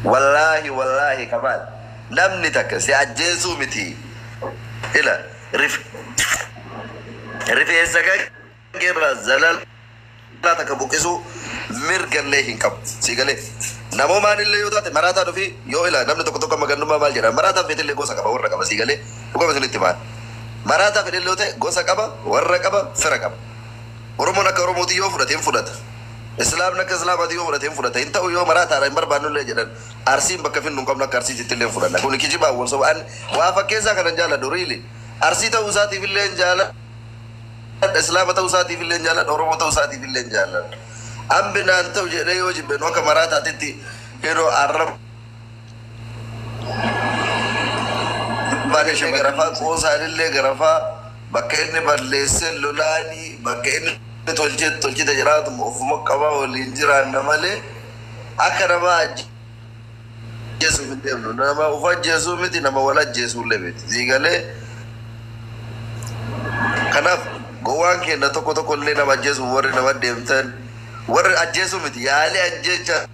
Wallaahi wallaahi kamaal namni takka si ajjeesuu miti ila rifeensa kankee irraa zalala takka buqqisuu mirga illee hin qabu sii galee namoomaan illee yoo taate maraataan ofii yoo ila namni tokko tokko amma gannummaa maal jedha maraataan feete illee gosa qaba warra qaba sii galee dhugama isinitti maan maraataa fedhe illee yoo ta'e gosa qaba warra qaba fira qaba oromoon akka oromootii yoo fudhate hin fudhata Islaamni akka Islaamaati yoo fudhate hin fudhata hin ta'u yoo maraataadha hin barbaannullee jedhan Arsiin bakka finnu hin qabnu akka Arsiitittillee hin fudhanna kuni kijibaan wal soba an waa fakkeessaa kanan jaaladhu really Arsii ta'uu isaatiifillee hin jaaladha Islaama ta'uu isaatiifillee hin jaaladha Oromoo ta'uu isaatiifillee hin jaaladha an binaan ta'u jedhee yoo jibbe nu akka maraataatitti yeroo arraba Bakka ishee garafaa qoosaan illee garafaa bakka inni balleessee lolaanii bakka inni tolchee tolchite jiraatu ofuma qabaa waliin jiraanna malee akka nama ajjeesuu hin deemnu. Nama of ajjeesuu miti nama wal ajjeesuu illee miti. Sii galee kanaaf gowwaan keenya tokko tokko illee nama ajjeesuu warri nama deemtan warri ajjeesuu miti yaalii ajjeechaa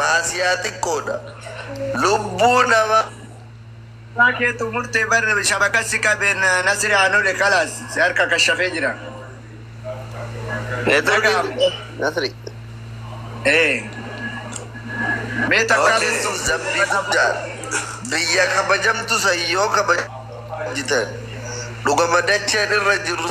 Maasiyaa xiqqoodha lubbuu nama. Dhugaa keetu murte bar shabaka si qabe nasiri anole kalas si harka kashafe jira. Network nasri. Ee. Mee takka Okay sun zambii guddaadha. Biyya kabajamtu san yoo kabajitan dhugama dacheen irra jirru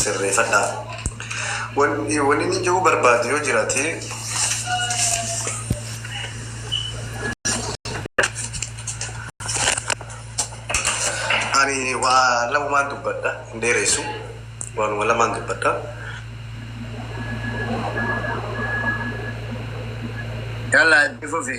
sirreefadha. Wanini ji'uu barbaadu yoo jiraate ani waa lamaan dubbadha hin dheeressu waanuma lamaan dubbadha. Yalla itti fufi.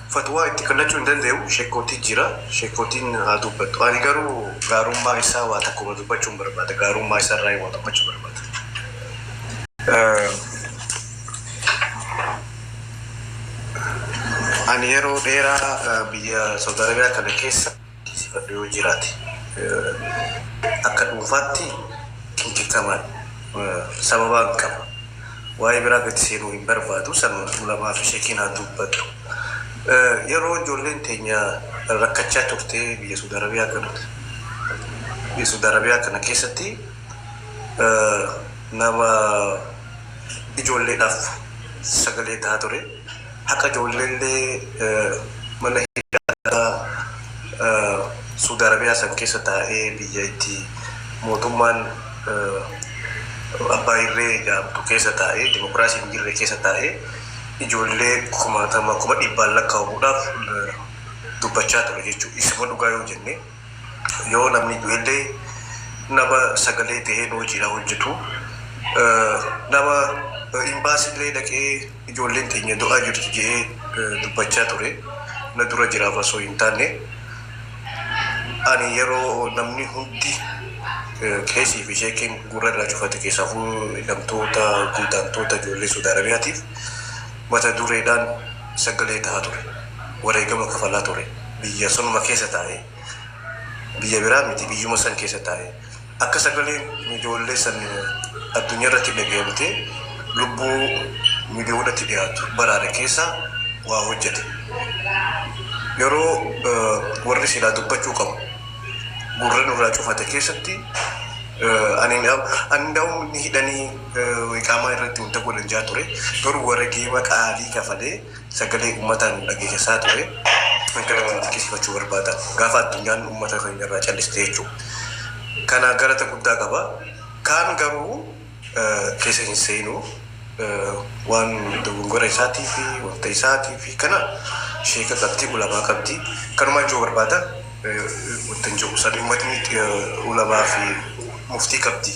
Fatwaa itti kallachuu hin dandayu shekkootii jira shekkootiin haa duubbattu ani garuu. Gaarummaa isaa waa takkuma dubbachuun barbaada gaarummaa isaa irraayi waa dubbachuu barbaada. Ani yeroo dheeraa biyya saudi arabia kana keessa. dhiisifadhu yoo jiraate akka dhuunfaatti qinqixxama sababaan qaba waa'ee biraa gadi seenuu hin barbaadu sanuma ulamaa fi sheekiin haa dubbatu yeroo ijoolleen teenya rakkachaa turte biyya suud arabiyaa kana biyya suud arabiyaa kana keessatti nama ijoolleedhaaf sagalee tahaa ture Haqa ijoolleellee mana hidhaa Suudi Arabiyaa san keessa taa'ee biyya itti mootummaan abbaa irree ja'amtu keessa taa'ee dimokiraasiin hin jirre keessa taa'ee ijoollee kumaatama kuma dhibbaan lakkaawamudhaaf dubbachaa ture jechuudha. Isuma dhugaa yoo jenne. Yoo namni du'ellee nama sagalee tahee nu wajjiin haa hojjatu. Nama Imbaasillee dhaqee ijoolleen teenya du'aa jirti je'ee dubbachaa ture na dura jiraaf asoo hin taanne ani yeroo namni hundi qeesii fi sheekiin gurra irraa cufate keessaafuu hidhamtoota, godaantoota ijoollee Suud Arabiyaatiif mata dureedhaan, sagalee taha ture. Wareegama kafalaa ture. Biyya sanuma keessa taa'ee. Biyya biraa miti biyyuma san keessa taa'ee. Akka sagaleen ijoollee san addunyaa irratti dhagayamtee lubbuu miliyoonatti dhiyaatu baraare keessa waa hojjate. Yeroo warri silaa dubbachuu qabu gurra nurraa cufate keessatti ani ani ndaawum ni hidhanii Iqaamaa irratti hunda godhan jaa ture garuu waregeema qaalii kafalee sagalee ummataa nu dhageesessaa ture kan kana kan xiqisifachuu barbaada gaafa addunyaan ummata keenya irraa calliste jechuu kana galata guddaa qaba kaan garuu keessa hin seenu waan dogongora isaatii fi wanta isaatii fi kana sheeka qabdi ulamaa qabdi kanumaan juu barbaada wanta hin jiru san ummatni ulamaa fi muftii qabdi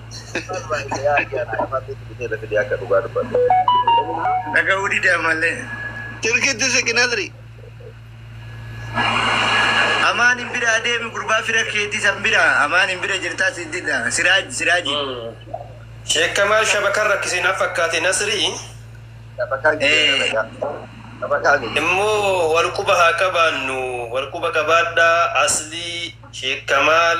Dhaga'uu dide ammallee. Tirkitti siqi Nasri. Amaan hin bira adeemi gurbaa fira keetii san bira. Amaan hin bira jirtaa si dida. Siraaj siraaji. Sheek Kamaal shabakaan rakkisee naaf fakkaate Nasrii immoo wal quba haa qabaannu wal quba qabaadhaa aslii Sheek Kamaal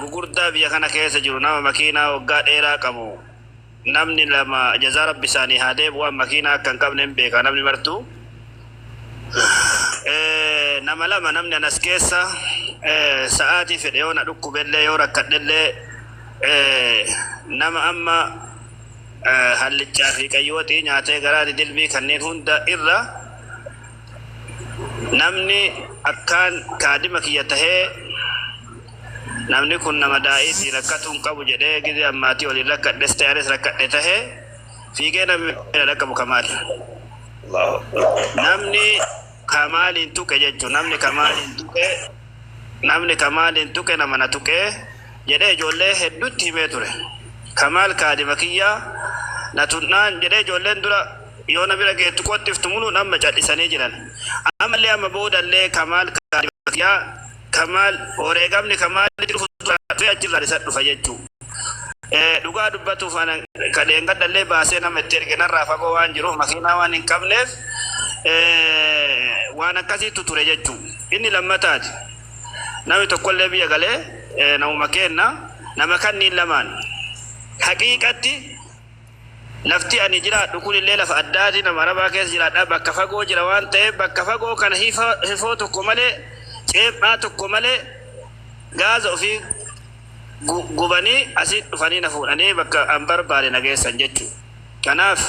gugurdaa biyya kana keessa jiru nama makiinaa waggaa dheeraa qabu namni lama jazaa rabbi isaanii haa deebi'an makiinaa akka hin qabne hin beeka namni martuu Eh, nama lama namni anas keessa eh, sa'aatii fedhe yoo na dhukkubellee yoo rakkadhellee eh, nama amma eh, hallichaa fi qayyooxii nyaatee garaa didilbii kanneen hunda irra Namni akkaan kaadima kiyya tahe namni kun nama daa'iiti rakkatuu hin qabu jedhee gizee an maatii waliin rakkadhes tahe anis rakkadhe tahe fiigee namni na dhaqqabu kamaal. Namni kamaaliin tuqe jechuun namni kamaaliin tuqe namni kamaaliin tuqe nama na tuqe jedhee ijoollee hedduutti himee ture. Kamaal kaadima kiyya na tunnaan jedhee ijoolleen dura Yoo na bira geettu qottiftu muluun amma cadhisanii jiran. Ammallee amma boodallee Kamaal Kaadibakiyaa Kamaal wareegamni Kamaal jiru fuulduraan dhufee achirraan isa dhufa jechuu. Dhugaa dubbatuuf anan ka dheengadhallee baasee nama itti erge narraa fagoo waan jiruuf makiinaa waan hin qabneef waan akkasiitu ture jechuu. Inni lammataati. Namni tokkollee biyya galee namuma keenna nama kanniin lamaan haqiiqatti Lafti ani jiraadhu kun illee lafa addaati, nama Arabaa keessa jiraadha, bakka fagoo jira waan ta'eef bakka fagoo kana hifoo tokko malee, ceephaa tokko malee gaaza ofii gubanii asii dhufanii na fuudhanii bakka an barbaade na geessan jechuudha. Kanaaf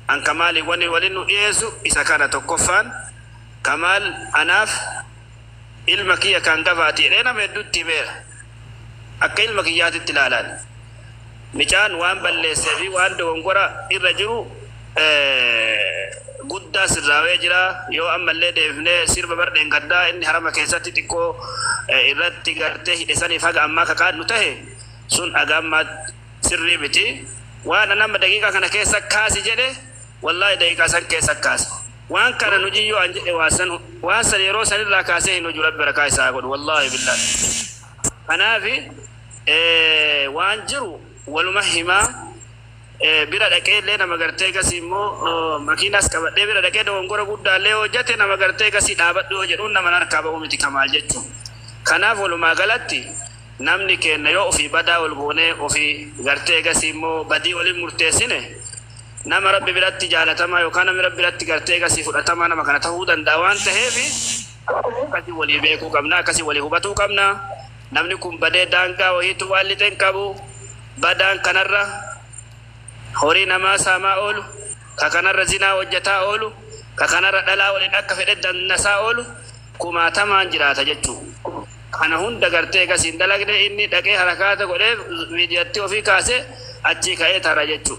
an Kamaaliin wani waliin nu dhiyeessu isa kana tokkoffaan Kamaal anaaf ilma kiyya ka hangafaati jedhee nama hedduutti himeera. Akka ilma kiyyaatitti ilaalaan. Micaan waan balleessee fi waan dogongora irra jiru guddaa sirraawee jira. Yoo ammallee deebifnee sirba bar dheengaddaa inni harama keessatti xiqqoo irratti gartee hidhe saniif haga ammaa ka qaannu tahe sun haga ammaa sirrii miti. Waan an amma daqiiqaa kana keessa kaasi jedhe wallaahi daqiiqaa san keessa kaasa. Waan kana hin hojin yoo an jedhe waan san waan san yeroo san irraa kaasee hin hoju rabbi barakaa isaa haa godhu wallaahi billaahi kanaafi waan jiru waluma himaa bira dhaqee illee nama gartee gasii immoo makiinaas qabadhee bira dhaqee dogongora guddaa illee hojjate nama gartee gasii dhaabadhu yoo jedhuun nama harkaa ba'uu miti kamaal jechuun kanaaf walumaa galatti namni keenna yoo ofii badaa wal goonee ofii gartee gasii immoo badii waliin murteessine Nama Rabbi biratti jaalatamaa yookaan namni Rabbi biratti gartee egasii fudhatamaa nama kana tahuu danda'a waan taheef akkasii walii beekuu qabna, akkasii walii hubatuu qabna. Namni kun badee daangaa wahiitu waan lixe hin qabu. Badaan kanarra horii namaa saamaa oolu, ka kanarra zinaa hojjataa oolu, ka kanarra dhalaa waliin akka fedhe dannasaa oolu kumaatamaan jiraata jechuu. Kana hunda gartee egasii hin dalagne inni dhaqee harakaata godhee viidiyatti ofii kaasee achii ka'ee tara jechuu.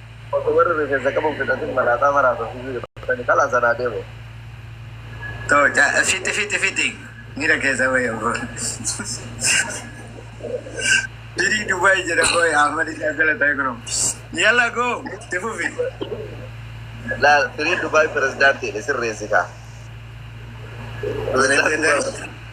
Osoo warri rifeensa qabu hin fixatin malaaxaa maraatu ofii fiixattani kalaas anaa deemu. Too ja fixi fixi fixi mira kesa wayi obo. Diri Dubai jira boy Ahmad ija gala tay kuno. Yalla go tifufi. Laal firii Dubaay pirezidaantiidha sirreessi kaa. Pirezidaantii.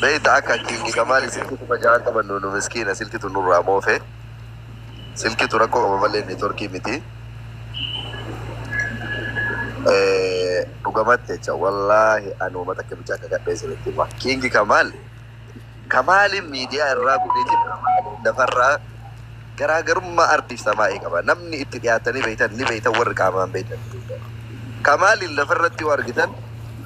Beeyta akka king kamaali silki kuma ja'a qaban nunu miskiina silkitu nurraa moofe silkitu rakkoo qaba malee networkii miti dhugamatti jecha wallaahi ani wama takka bichaa akka gadhee isinitti hima king kamaal kamaaliin miidiyaa irraa gudeeti lafarraa Garaagarummaa ardiif samaa'ii qaba. Namni itti dhiyaattanii beektan ni beektan warri qaamaan beektan ni beektan. Kamaaliin lafarratti yoo argitan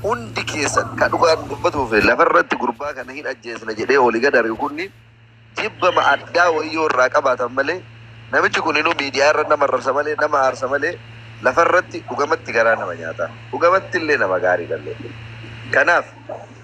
hundi keessan ka dhugaan dubbatuu fi lafarratti gurbaa kana hin ajjeesna jedhee oli gad ari'u kunni jibbama addaa wayii yoo irraa qabaatan malee namichi kuninuu miidiyaa irra nama arrabsa malee nama aarsa malee lafarratti dhugamatti garaa nama nyaata. Dhugamatti illee nama gaariidha illee. Kanaaf